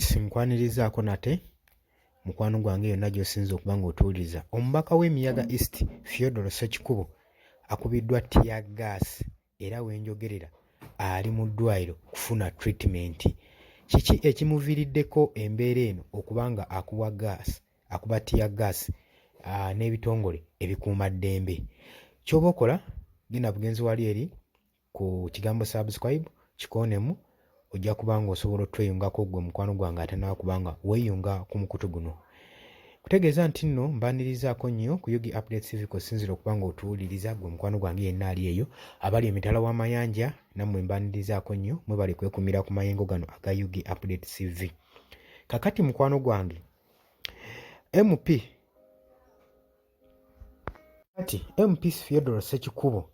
sinkwanirizaako nate mukwano gwange yonna gy'osinza okuba ng'otuwuliriza omubaka w'emiyaga east theodoro sekikubo akubiddwa tiya gas era wenjogerera ali mu ddwaliro kufuna treatment kiki ekimuviiriddeko embeera eno okuba nga akuwa gas akuba tiya gas ah, n'ebitongole ebikuuma ddembe ky'oba okola genda bugenzi wali eri ku kigambo subscribe kikoonemu ojja kuba nga osobola otweyungako gwe mukwano gwange atanaba kubanga weyunga ku mukutu guno kutegeeza nti nno mbanirizaako nnyo ku yogi update civic osinzira okuba nga otuwuliriza gwe mukwano gwange yenna ali eyo abali emitala w'amayanja nammwe mbanirizaako nnyo mwebali kwekumira ku mayengo gano aga yogi update cv kakati mukwano gwange mp kati mp theodore sekikubo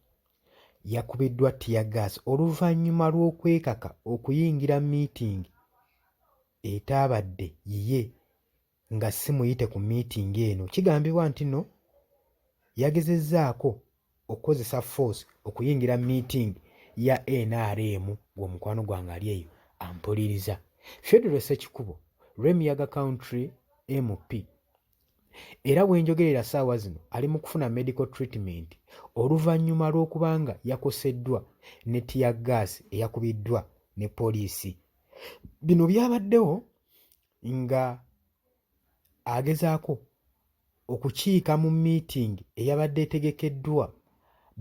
yakubiddwa ttiyagaasi oluvannyuma lw'okwekaka okuyingira miitingi etaabadde yiye nga si muyite ku miitingi eno. Kigambibwa nti no yagezezzaako okukozesa force okuyingira miitingi ya nrm ng'omukwano gwange ali eyo ampuliriza. Federo Ssekikubo, Remiyaga Country MP, era wenjogerera saawa zino ali mu kufuna medical treatment oluvannyuma lw'okubanga yakoseddwa ne tiya gaasi eyakubiddwa ne poliisi bino byabaddewo nga agezaako okukiika mu meeting eyabadde etegekeddwa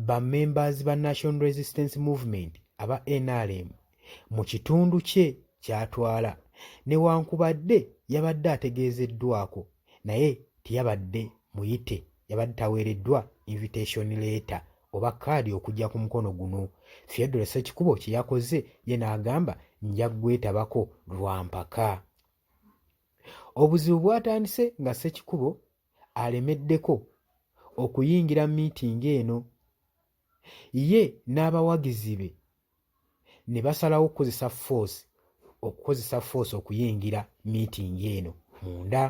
ba members ba national resistance movement aba nrm mu kitundu kye ky'atwala newankubadde yabadde ategeezeddwako naye teyabadde muyite yabadde taweereddwa invitation leeta oba kaadi okujja ku mukono guno theodore sekikubo kye yakoze ye n'agamba nja kugwetabako lwa mpaka obuzibu bwatandise nga sekikubo alemeddeko okuyingira miitingi eno ye n'abawagizi be ne basalawo okukozesa force okukozesa force okuyingira miitingi eno munda.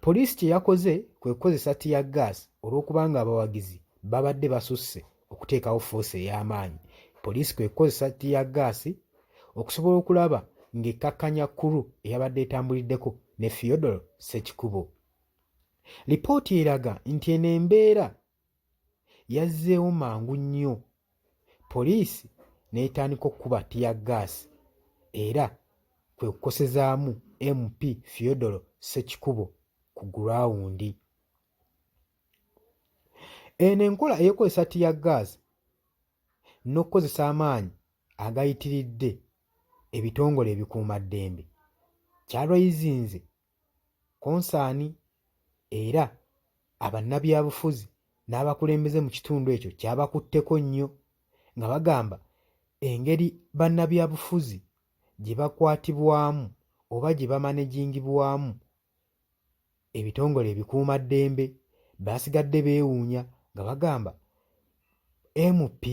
Poliisi kye yakoze kwe kukozesa tiya gas olw'okubanga abawagizi babadde basusse okuteekawo force ey'amaanyi. Poliisi kwe kukozesa tiya gas okusobola okulaba ng'ekkakkanya kuru eyabadde etambuliddeko ne Theodore Ssekikubo. Lipooti eraga nti eno embeera yazzeewo mangu nnyo poliisi n'etandika okukuba ttiyaggaasi era kwe kukosezaamu MP Theodore Ssekikubo ku gulawundi. Eno enkola ey'okukozesa ttiyaggaasi n'okukozesa amaanyi agayitiridde ebitongole ebikuumaddembe kyalwayizinze konsaani era abannabyabufuzi n'abakulembeze mu kitundu ekyo kyabakutteko nnyo nga bagamba engeri bannabyabufuzi gye bakwatibwamu oba gye bamanejingibwamu ebitongole ebikuumaddembe baasigadde beewuunya nga bagamba MP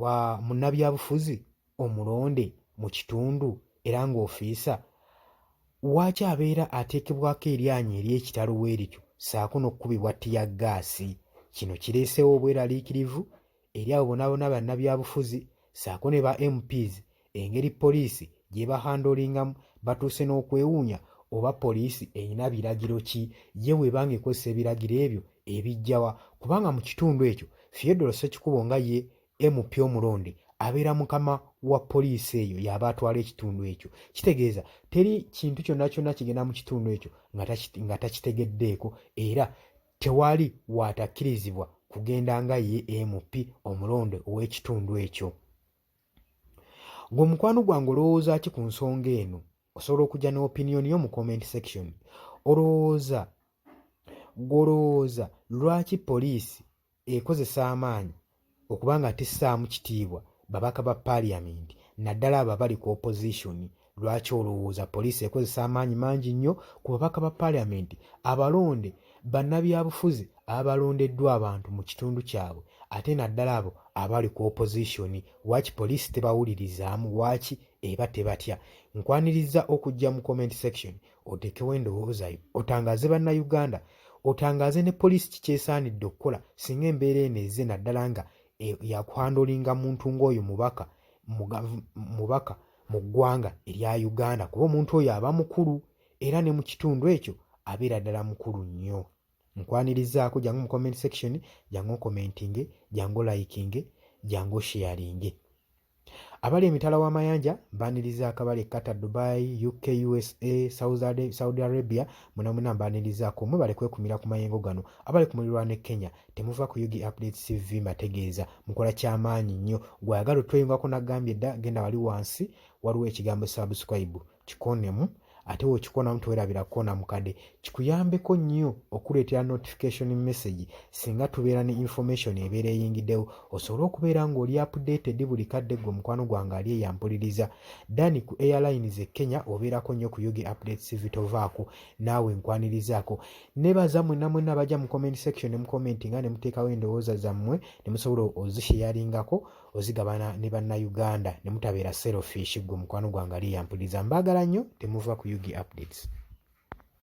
wa munnabyabufuzi omulonde mu kitundu era ng'ofiisa waaki abeera ateekebwako eryanyi ery'ekitalo bwe lityo ssaako n'okukubibwa ttiya ggaasi kino kireeseewo obweraliikirivu eri abo bonaabona bannabyabufuzi ssaako ne ba mps Engeri poliisi gyebahandoolingamu batuuse n'okwewuunya oba poliisi erina biragiro ki ye bw'eba ng'ekozesa ebiragiro ebyo ebijjawa kubanga mu kitundu ekyo Theodore Ssekikubo nga ye MP omulonde abeera mukama wa poliisi eyo y'aba atwala ekitundu ekyo kitegeeza teri kintu kyonna kyonna kigenda mu kitundu ekyo nga takitegeddeeko era tewali waatakkirizibwa kugenda nga ye MP omulonde ow'ekitundu ekyo. Gwe mukwano gwange olowooza ki ku nsonga eno? Osobola okujja ne opinion yo mu comment section. Olowooza gwolowooza lwaki poliisi ekozesa amaanyi okuba nga tissaamu kitiibwa babaka ba parliament naddala abo abali ku opposition Lwaki olowooza poliisi ekozesa amaanyi mangi nnyo ku babaka ba paaliyamenti abalonde, bannabyabufuzi abalondeddwa abantu mu kitundu kyabwe ate naddala abo abali ku opozisoni? Waaki poliisi tebawulirizaamu? Waaki eba tebatya? Nkwanirizza okujja mu comment section oteekewo endowooza yo otangaaze Bannayuganda otangaaze ne poliisi kiki esaanidde okukola singa embeera eno ezze naddala nga e, yakuhandolinga muntu ng'oyo mubaka mubaka mu ggwanga erya Uganda kuba omuntu oyo aba mukulu era ne mu kitundu ekyo abeera ddala mukulu nnyo. Nkwanirizaako jangu mu comment section, jangu okomentinge, jangu olayikinge, jangu osheyalinge. Abali emitala w'amayanja mbaniriza akabale Qatar, Dubai, UK, USA, Saudi Arabia, munamuna mbanirizaako mwebale kwekumira ku mayengo gano. Abali ku mulirwano e Kenya temuva ku ug updates cv mategeeza mukola kyamaanyi nnyo gwayagala otweyungako nagambye dda genda wali wansi waliwo ekigambo subscribe kikonemu ate wokikonamu tewerabira kukona mukade kikuyambeko nnyo okuleetera notification message singa tubeera ne information ebeera eyingiddewo osobole okubeera ng'oli updated buli kadde gwe omukwano gwange ali eyampuliriza dani ku airlines e kenya obeerako nnyo ku ug update cv tovaako naawe nkwanirizaako nebaza mwena mwena abaja mu comment section ne mukomenti nga nemuteekawo endowooza zammwe ne musobola ozisheyalingako ozigabana ne bannayuganda ne mutabeera selfish gwe mukwano gwange ali yampuliza mbaagala nnyo temuva ku ug updates